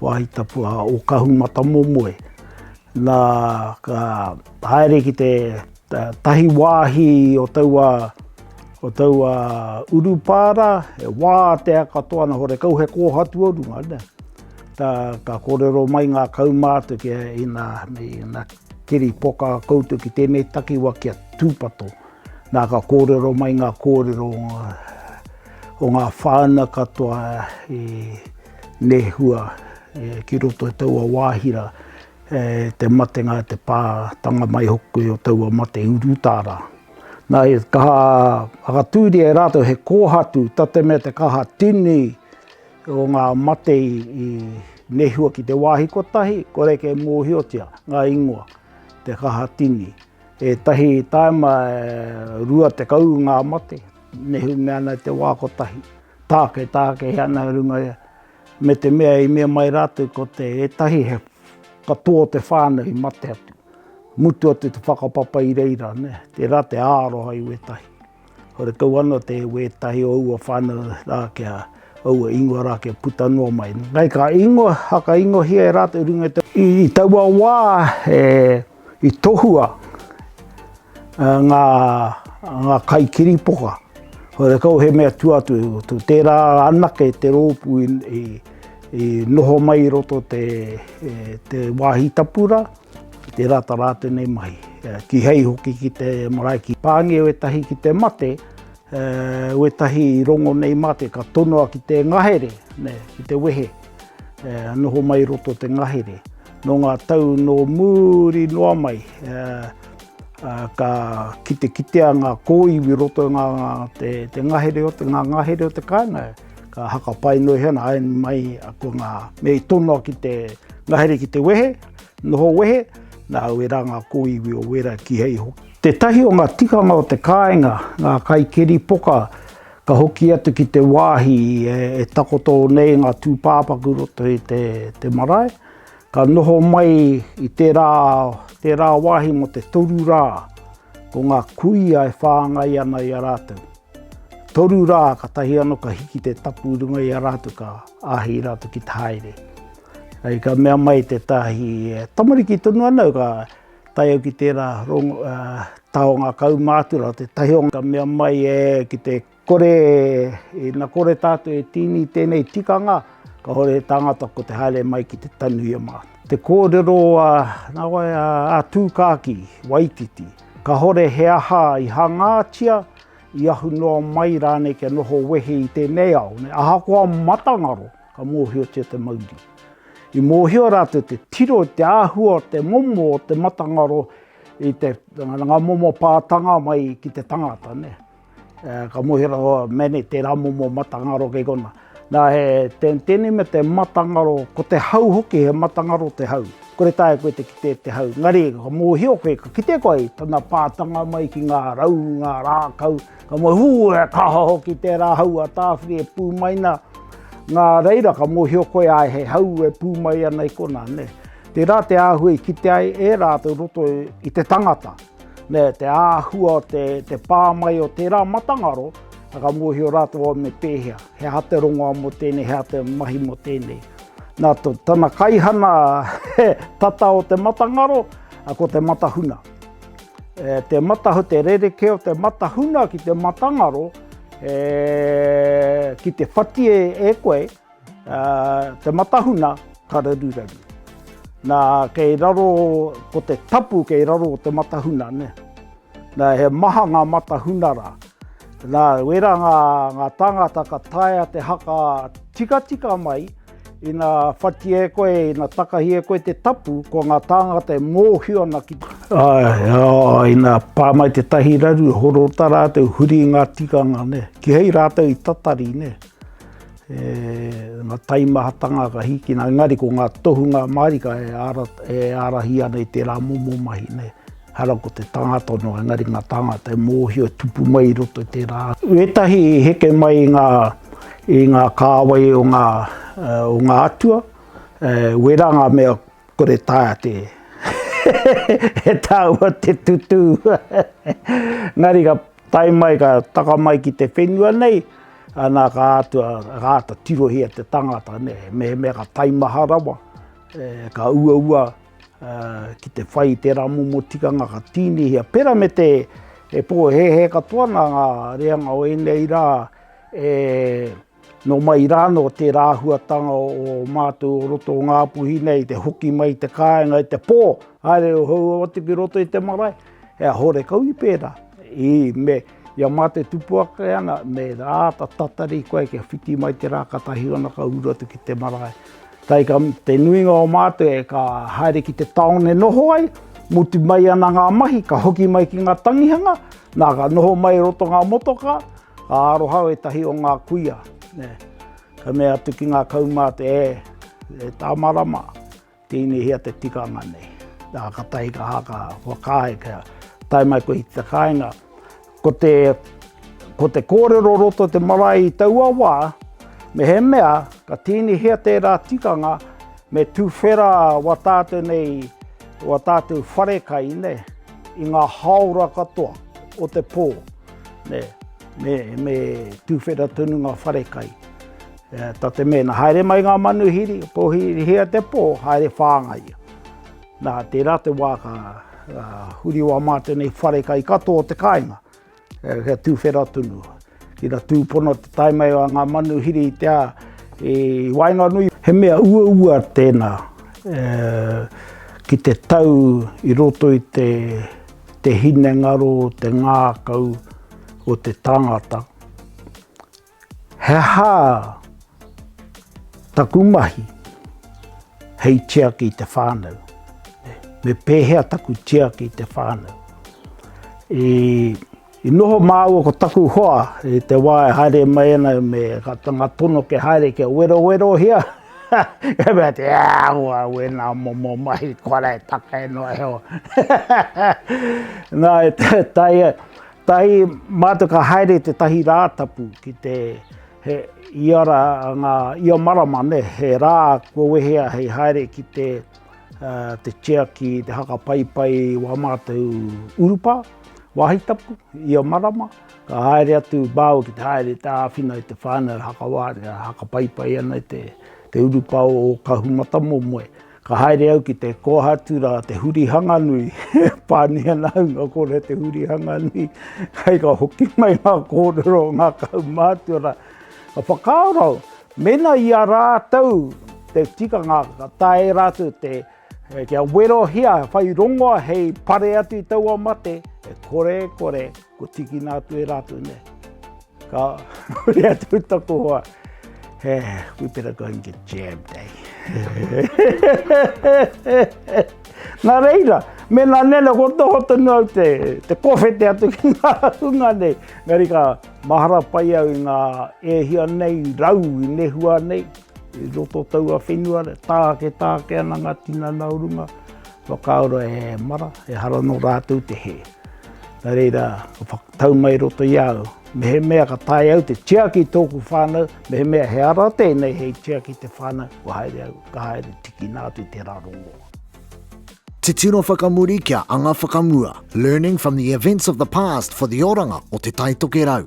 Wāhi Tapu a Ōkahumatamomoe, nā, ka haere ki te tahi wāhi o taua, o taua urupā rā, he wātea katoa ana, horekau he kōhatu o runga, nē. Ka, ka kōrero mai ngā kaumātua kia ina, ina keri poka koutou ki tēnei takiwā kia tūpato. Nā, ka kōrero mai ngā kōrero o ngā, o ngā whānau katoa i, Nehua ki roto i taua wāhi rā, te matenga a te pā, tanga mai hoki o taua mate i urutā rā. Nā, he kaha whakatūria e rātou, he kōhatu, tā te mea te kaha tini o ngā mate i nehua ki te wāhi kotahi, kore kei mōhiotia ngā ingoa, te kaha tini. Ētahi tāima e rua tekau ngā mate, nehu mea ana i te wā kotahi. Tāketakehi ana i runga ia, me te mea i mea mai rātou ko te ētahi he katoa o te whānau i mate atu. Mutu atu te whakapapa i reira, nē, tērā te aroha i wētahi. Horekau anō te wētahi o aua whānau rā kia aua ingoa rā kia puta noa mai. Nei ka ingoa, whakaingohia e rātou i runga i te. I taua wā, he. I tohua ngā kaikiripoka, horekau he mea tua atu, tērā anake te rōpū i noho mai i roto te wāhi tapu rā, tērā tā rātou nei mahi. Kīhai hoki ki te marae, ki Pānge wētahi ki te mate, wētahi i rongo nei mā te, ka tonoa ki te ngahere, ki te wehe, noho mai i roto te ngahere. Nō ngā tau nō muri noa mai, ka kitekitea ngā kōiwi i roto i te ngahere o te, ngā ngahere o te kāinga, ka hakapai noa iho ana, āe mai, ko ngā mea i tonoa ki te ngahere ki te wehe, noho wehe, nā wērā ngā kōiwi o wērā kīhei hoki. Tētahi o ngā tikanga o te kāinga, ngā kaikeripoka, Ka hoki atu ki te wāhi e takoto nei ngā tūpāpaku roto i te marae. Ka noho mai i tērā, tērā wāhi mō te toru rā, ko ngā kuia e whāngai ana i a rātou. Toru rā, katahi anō ka hiki te tapu i runga i a rātou, ka āhei rātou ki te haere. Hei ka mea mai tētahi tamariki tonu ana au, ka. tae au ki tērā taonga kaumātua o te tahi o ngā mea mai e ki te kore e na kore tātou e tīni i tēnei tikanga kahore he tāngata ko te haere mai ki te tanu i a mātou. Te kōrero a nā wai a Tūkākī, Waititi, kahore he aha i hangātia, i ahu noa mai rānei kia noho wehe i tēnei ao, ahakoa matangaro. Ka mōhiotia te mauri. I mōhio rātou te tiro i te āhua o te momo o te matangaro i te, ngā momo pātanga mai ki te tangata, nē. Ka mōhio rātou, oh, mene tērā momo matangaro kei konā. Nā, he tēnei mea te matangaro, ko te hau hoki, he matangaro te hau. Kore taea koe te kite te hau, engari ka mōhio koe, ka kite koe i tana pātanga mai ki ngā rau, ngā rākau, Ka moe hū e kaha hoki tērā hau a Tāwhiri e pū mai nā, nā reira ka mōhio koe āe he hau e pū mai ana i konā, nē. Tērā te āhua i kite ai e rātou i roto i te tangata, nē, te āhua o te, te pā mai o tērā matangaro, ā, ka mōhio rātou au me pēhea, he aha te rongoā mō tēnei, he aha te mahi mō tēnei. Nā tana kaihana tata o te matangaro, ko te matahuna. E te matahu, te rereke o te matahuna ki te matangaro, e, ki te whati e, e koe, a, te matahuna ka raruraru. Nā, kei raro ko te tapu kei raro o te matahuna, ne? Nā, he maha ngā matahuna rā. Nā, wera ngā, ngā tāngata ka taea te haka tikatika mai, Ina whati e koe, ina takahi e koe te tapu, ko nga tāngata e mōhio ana ki te... Āe, ina pā mai te tahi raru, horo ta rātou, huri i ngā tikanga, ne. Kihei rātou i tatari, ne. E, na taimahatanga ka hīkina, engari ko ngā tohunga mārika e, ara, e ārahi ana i tērā momo mahi, ne. Hara ko te tangata no engari nga tangata e mohio tupu mai i roto i tera atu. I etahi i heke mai i nga i nga kawai o nga o nga atua e wera nga mea kore taea te e taua te tutu engari ka tae mai ka taka mai ki te whenua nei ana ka atua ka ata tirohia te tangata ne mehemea ka taimaha rawa e ka uaua Ki te whai i tērā momo tikanga ka tīnihia, pērā me te e pōhēhē katoa ana ngā reanga o ēnei rā, e, nō mai rānō tērā āhuatanga o mātou o roto o Ngāpuhi nei, te hoki mai i te kāinga i te pō, haere hou atu ki roto i te marae, he a horekau i pērā. Ī, me. Ia mā te tupu ake ana, me āta tatari koe kia whiti mai te rā ka tahi ana ka uru atu ki te marae. Tae ka te nuinga o mātou e ka haere ki te taone noho ai, mutu mai ana ngā mahi ka hoki mai ki ngā tangihanga, nā ka noho mai roto ngā motoka, ka aroha au e tahi o ngā kuia. Ka mea atu ki ngā kaumātua, e, e tā marama. Tēnei hea te tikanga nei. Nā, ka tahi ka haka whakaae kia tae mai koe i te kāinga. Ko te, ko te kōrero roto te marae i taua wā, mehemea ka tēnei hea tērā tikanga, me tuwhera wā tātou nei, wā tātou wharekai, ne, i ngā haora katoa o te pō, ne, me, me tuwhera tonu ngā wharekai. Ta te mea, na haere mai nga manuhiri, pohirihia te po, haere whāngai ia. Na, tera te wa ka huri wa ma tenei whare kai katoa o te kainga, kia tuwhera tonu. Ina tūpono te tae mai a nga manuhiri i te a, i waenganui. He mea uaua tena ki te tau i roto i te hinengaro, te ngakau o te tangata. He aha taku mahi hei tiaki i te whānau? Me pēhea taku tiaki i te whānau? I noho māua ko taku hoa i te wā e haere mai ana me ngā tono kia haere kia werowerohia, ka mea, Te Āhua au e ngā momo mahi kua rētake noa iho. Nā, e taea. Tahi, mātou ka haere tētahi rā tapu ki te, he, ia rā, ngā, ia marama, nē, he rā kua wehea hei haere ki te, te chair ki te haka paipai wā mātou urupā, wāhi tapu, ia marama, ka haere atu Bauer ki te haere te āwhina i te whānau haka wātea, haka paipai ana i te, te urupā o Kahumatamomoe. Ka haere au ki te kōhatu rā te hurihanga nui, pani ana au nō kōrua te hurihanga nui, hei ka hoki mai ngā kōrero o ngā kaumātua rā. Ka whakaaro au, mēnā i a rātou te tikanga ka taea e rātou te kia werohia, whai rongoa hei pare atu i taua mate, e kore e kore. Kua tīkina atu e rātou nei. Ka huri atu i taku hoa. He, we better go and get jammed, eh? Nā reira, mena nena ko tō hoto nō te, te kofete atu ki ngā hunga nei. Ngari ka mahara pai au i ngā ehia nei, rau i nehua nei, i roto taua whenua, tāke tāke ana ngā tinana o runga. Whakaaro e mara, ehara nō rātou te hē. Nā reira, ka whakatau mai i roto i a au, mehemea ka taea au te tiaki i tōku whānau, mehemea he ara tēnei hei tiaki i te whānau, kua haere au, ka haere tīkina atu i tērā rongoā. Titiro whakamuri kia anga whakamua, learning from the events of the past for the oranga o Te Taitokerau.